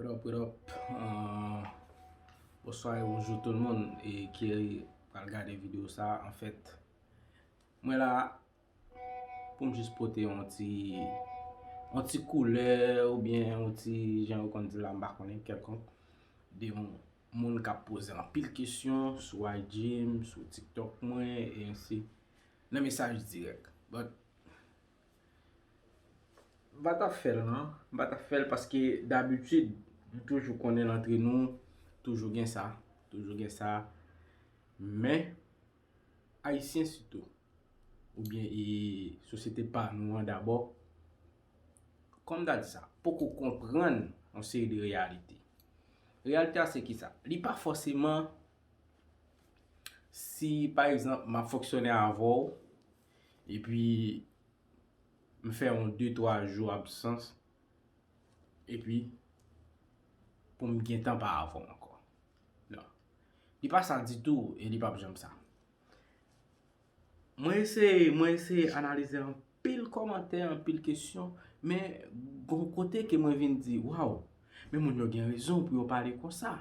What up, what up, bonswa e bonjou tout moun e ki pral gade video sa a, anfèt mwen la pou m jis pote yon ti yon ti koulè ou byen yon ti jan yo konn di la m pa konnen kèlkonk de yon moun k ap poze anpil kesyon sou IG m, sou tiktok mwen e ansi nan mesaj dirèk but M pa ta fèl nan, m pa ta fèl paske dabitid m toujou konnen antre nou toujou gen sa, toujou gen sa men ayisyen sitou oubyen e sosyete pa nou an dabò kòm ta di sa poko konprann yon seri de reyalite. Reyalite a se ki sa? Li pa fòseman si pa egzanp m ap fonksyone avè w Epi m fè yon de twa jou absans epi pou m gentan pa anfòm ankò. Non. Li pa sa ditou e li pap janm sa. Mwen eseye, mwen eseye analize anpil kòmantè, anpil kesyon, men gon kote ke mwen vin di, waw, men moun yo gen rezon pou yo pale konsa.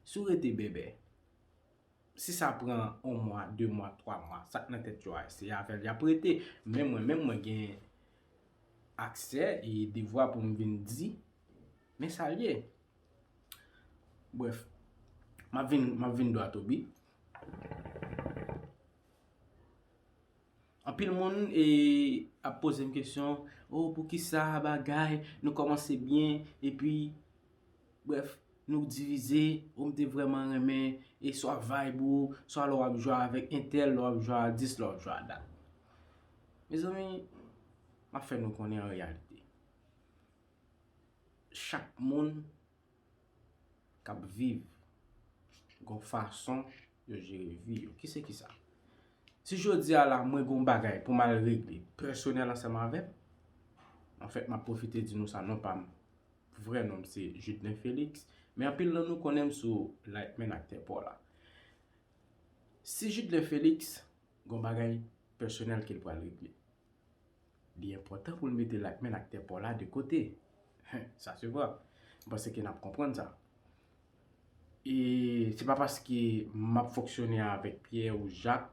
Si w rete bèbè. Si sa pran on mwa, de mwa, twa mwa, sa k nan tèt yo a, se avè l y ap rete. Men mwen menm, mwen gen aksè e devwa pou m vin di, men sa l ye. Brèf, m ap vin dwatobi. Anpil moun ap pozem kesyon oh poukisa bagay nou komanse byen epi bref nou divize oh m te vreman renmen e swa vibe ou swa lè wap jwe avek entèl lè wap jwe a dis lè wap jwe a dat mezanmi map fè nou konnen an reyalite chak moun k ap viv gon fason yo jere vi yo. Ki se ki sa? Si jodi a la mwen gon bagay pou m al regle pèsonèl ansanm avè m, an fèt m ap pwofite di nou sa non pa m vrè non m se Judnen Felix men anpil nan nou konnen m sou Lightman ak Tè Paw la. Si Judnen Felix gon bagay pèsonèl ke l pral regle. Li enpòtan pou nou mete lakmèn ak tè pò la de kote. Hen, sa se vwa. M panse ke n ap konprann sa. E se pa paske m ap fonksyone avèk Pyè ou Jak,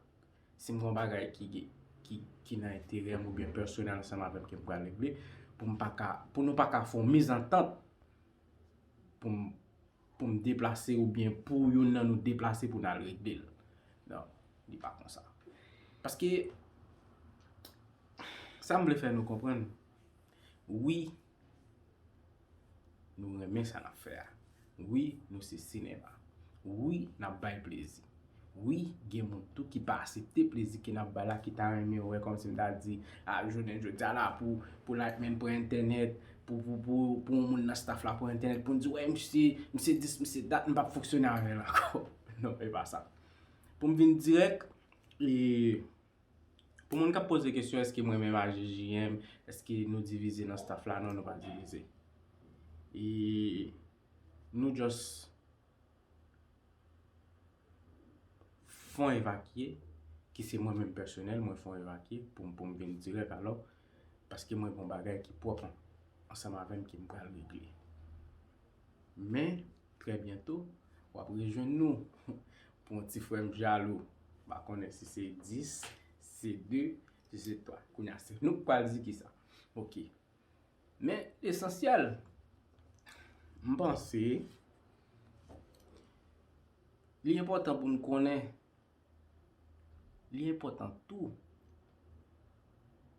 si m gen yon bagay ki gen, ki, ki nan enterè m oubyen pèsonèl ansanm avè m ke m pral regle, pou m pa ka, pou nou pa ka fè yon mezantant pou m. pou m deplase ou byen pou youn nan nou deplase pou n al regle l. Non, li pa konsa. Paske, sa m vle fè nou konprann, wi, nou renmen sa n ap fè a. Wi, nou se sinema. Wi, n ap bay plezi. Wi, gen moun tou ki pa asepte plezi ke nap bay la ki ta renmen wè kòmsi m ta di a jounen jodi a la pou pou Lightman pran entènèt, pou pou pou pou yon moun nan staff la pran entènèt pou n di wè misye, misye dis, misye dat m pap fonksyone avè l ankò. Non, e pa sa. Pou m vin dirèk, e pou moun kap poze kesyon eske mwen menm ak JJM eske nou divize nan staff la, non nou pa divize. E nou just. fon evakye, ki se mwen menm pèsonèl mwen fon evakye pou m pou m vin dirèk alò, paske mwen gen yon bagay ki pwòp ansanm avè m ke m pral regle. Men, trè byento, w ap rejwenn nou pou yon ti frè m jalou, m pa konnen si se 10, si se 2, si se 3. Kounye a, se nou k pral di kisa. Ok. Men esansyèl, m panse, li enpòtan pou nou konnen, li enpòtan tou,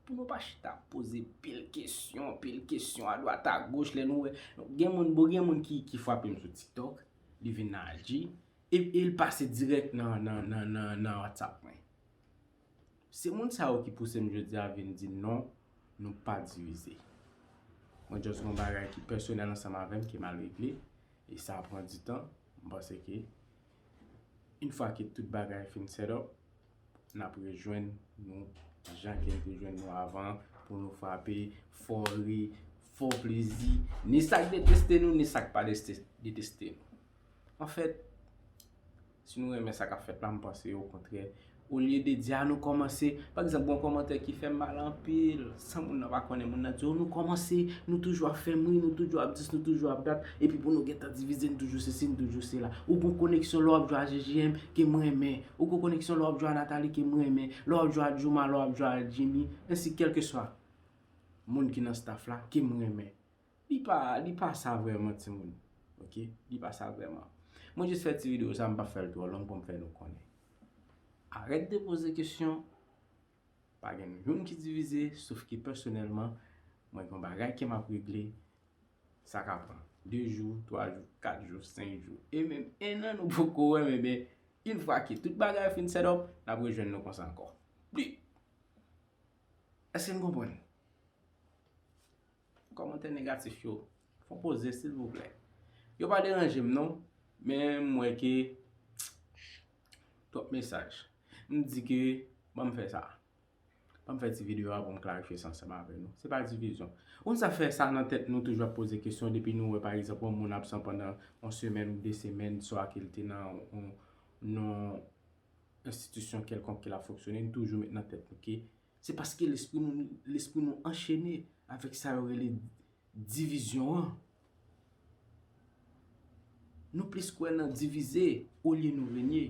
pou nou pa chita ap poze pil kesyon, pil kesyon a dwat a goch, lè nou wè, gen moun, bon gen moun ki, ki fwape m sou TikTok, li vin nan IG, e, e l pase dirèk nan, nan, nan, nan, nan WhatsApp mwen. Se moun sa yo ki pouse m jodi a vin di non nou pa divize. Mwen just gon bagay ki pèsonèl ansanm avè m ki mal regle e sa pran di tan. M panse ke yn fwa ke tout bagay fin set up n ap rejwenn nou jan ke n te jwenn nou avan an pou nou frape fò ri, fò plezi. Ni sa k deteste nou ni sa k pa deteste nou. Anfèt. Si nou renmen sa k ap fèt la, m panse okontrè, olye de di a nou kòmanse, pa egzanp gen yon kòmantè ki fè m mal anpil, san moun nan pa konnen, moun nan di o nou kòmanse, nou toujou ap fè m ri, nou toujou ap dis, nou toujou ap dat, epi pou nou gen tan divize, nou toujou sesi, nou toujou sela. Ou gon koneksyon lè w ap jwe a JJM ke m renmen, ou gon koneksyon lè w ap jwe a Nathalie ke m renmen, lè w ap jwe a Jooma, lè w ap jwe a Jimmy, ensi kèlkeswa moun ki nan staff la ke m renmen. Li pa li pa sa vrèman timoun ok li pa sa vrèman mwen jis fè ti video sa m pap fèl twò long poum fè nou konnen arèt de poze kesyon pa gen youn ki divize sof ke pèsonèlman mwen gen yon bagay ke map regle sa ka pran 2 jou 3 jou 4 jou 5 jou e menm 1 an nou poko wèm e ben yn fwa ke tout bagay fin set up nap rejwenn nou konsa ankò pi èske n konprann. Kòmantè negatif yo fon poze silvouplè. Yo pa deranje m non, men m wè ke twòp mesaj. M di ke ban m fè sa. Ban m fè ti videyo a pou m klarifye sa ansanm avè nou. Se pa divizyon. Ou konn sa fè sa nan tèt nou toujou ap poze kesyon depi nou wè pa egzanp yon moun absan pandan yon semèn ou de semèn swa ke l te nan yon enstitisyon kèlkonk ke l ap fonksyone, nou toujou met nan tèt nou ke Se paske lespri nou lespri nou anchene avèk sa yo rele divizyon an. Nou plis kwè nan divize olye nou renye.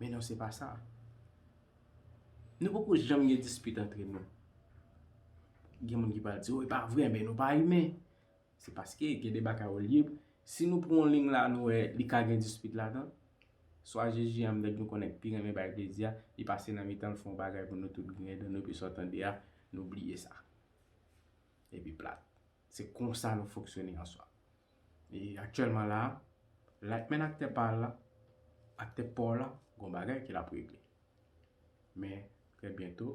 Men non se pa sa. Nou poko janm gen dispit antre nou. Gen moun ki pral di ou e pa vre men nou pa imen. Se paske gen de bagay ou lib, si nou pran yon lign la nou wè li ka gen dispit ladan, swa JJM nèg nou konnen k pi renmen bay plezi a, li pase nan mitan l fè yon bagay pou nou tout griyen dan nou epi sa w tande a, nou bliye sa. Epi plat. Se konsa nou fonksyone an swa. E aktyèlman la a, Lightman aktè pa l la, aktè pa w la, gen yon bagay ke l ap regle. Men, trè byento.